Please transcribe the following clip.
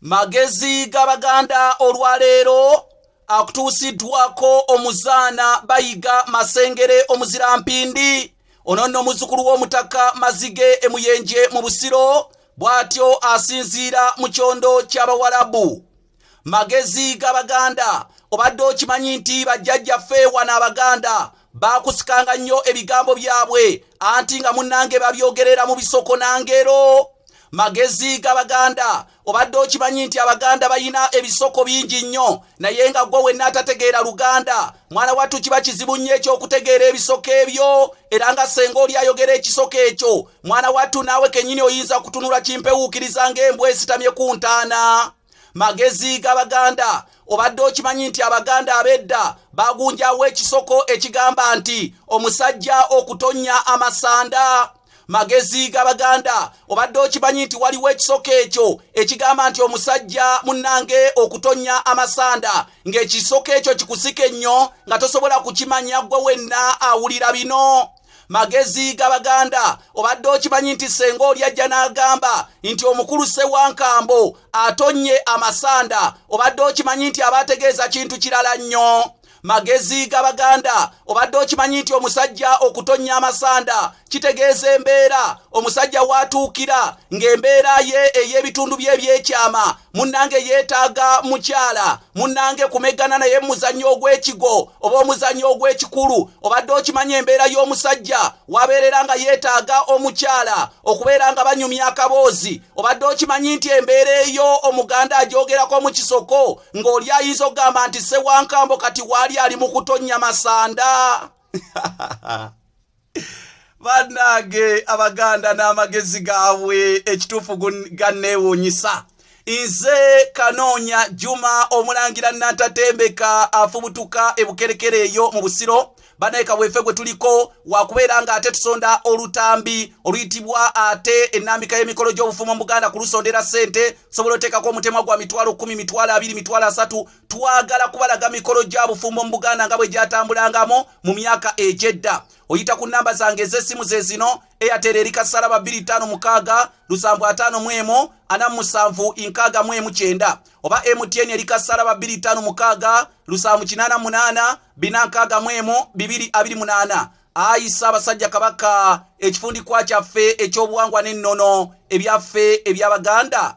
magezi g'abaganda olwaleero akutuusiddwako omuzaana bayiga masengere omuzira mpindi ono nno muzzukulu w'omutaka mazige emuyenje mu busiro bw'atyo asinziira mu kyondo ky'abawalabu magezi g'abaganda obadde okimanyi nti bajjajjaffe wano abaganda baakusikanga nnyo ebigambo byabwe anti nga munnange babyogerera mu bisoko nangero magezi g'abaganda obadde okimanyi nti abaganda balina ebisoko bingi nnyo naye nga gwe wenna atategeera luganda mwana wattu kiba kizibu nnyo ekyokutegeera ebisoko ebyo era nga senga oli ayogera ekisoko ekyo mwana wattu naawe kennyini oyinza kutunula kimpewuukiriza ng'embwa esitamye ku ntaana magezi g'abaganda obadde okimanyi nti abaganda ab'edda bagunjawo ekisoko ekigamba nti omusajja okutonnya amasanda magezi g'abaganda obadde okimanyi nti waliwo ekisoko ekyo ekigamba nti omusajja munnange okutonya amasanda ng'ekisoko ekyo kikusika ennyo nga tosobola kukimanya ggwe wenna awulira bino magezi g'abaganda obadde okimanyi nti senga oli ajja n'agamba nti omukulu sewankambo atonnye amasanda obadde okimanyi nti aba ategeeza kintu kirala nnyo Magezi g'Abaganda obadde okimanyi nti omusajja okutonnya amasanda kitegeeza embeera omusajja waatuukira ng'embeera ye ey'ebitundu bye ebyekyama munnange yeetaaga mukyala munnange kumeggana naye muzannyo ogw'ekigo oba omuzannyo ogw'ekikulu obadde okimanyi embeera y'omusajja wabeerera nga yeetaaga omukyala okubeera nga banyumya akaboozi obadde okimanyi nti embeera eyo omuganda agyogerako mu kisoko ng'oli ayinza okugamba nti sewankambo kati waali ali mu kutonnya masanda bannange abaganda n'amagezi gaabwe ekituufu ganneewuunyisa nze kanoonya juma omulangira nantatembeka afubutuka ebukerekere eyo mu busiro banaye kaweefe gwe tuliko wakubeera nga ate tusonda olutambi oluyitibwa ate enambika y'emikolo gy'obufumo mu buganda kulusondera ssente sobola oteekako omutemwa gwa mitwalo kumi mitwalo abiri mitwalo asatu twagala kubalaga mikolo gya bufumbo mu buganda nga bwe gyatambulangamu mu myaka egyedda oyita ku namba zange ez'essimu ze zino eyatera eri kasala ba 25 mukaaga lusanvu ataano mu emu ana musanvu inkaaga mu emu kyenda oba mtn eri kasala ba 25 mukaaga lusanvu kinaana munaana bina nkaaga mu emu bibiri abiri munaana ayi ssaabasajja kabaka ekifundikwa kyaffe ekyobuwangwa n'ennono ebyaffe ebyabaganda